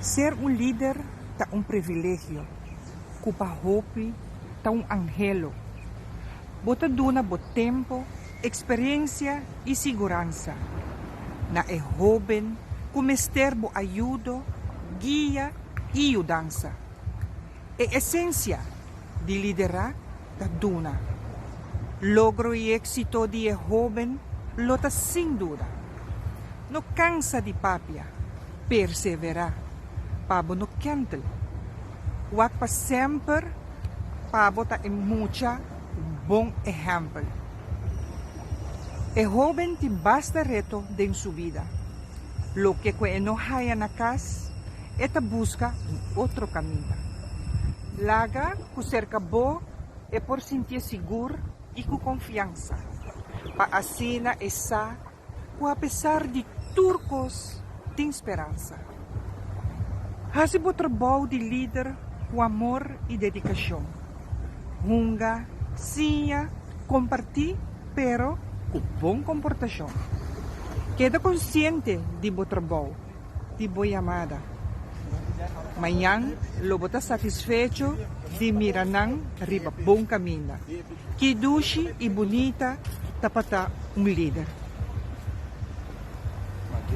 Ser un lider ta un privilegio cu pa hopi ta un angelo. Bo ta duna bo tempo, experiencia y siguransa na e hoben cu mester bo ayudo, guia y yudansa. E esensia di liderá ta duna. Logro i éksito di e hóben lo ta sin duda. No kansa di papia, perseverá pa bo no kèntel. Wak pa semper pa bo ta e mucha ku bon ehèmpel. E hóben tin basta reto den su bida. Loke ku e no haya na kas. E ta buska un otro kaminda. Laga ku serka bo e por sinti e sigur i ku konfiansa, pa asina e sa ku apesar di tur kos tin speransa. Hasi bo trabou di lider ku amor i dedikashon. Hunga, siña, kompartí, pero ku bon komportashon. Keda konsiente di bo trabou. di bo yamada. Mañan lo bo ta satisfecho di mira nan riba bon kaminda. Ki dushi i bunita ta pa ta un lider!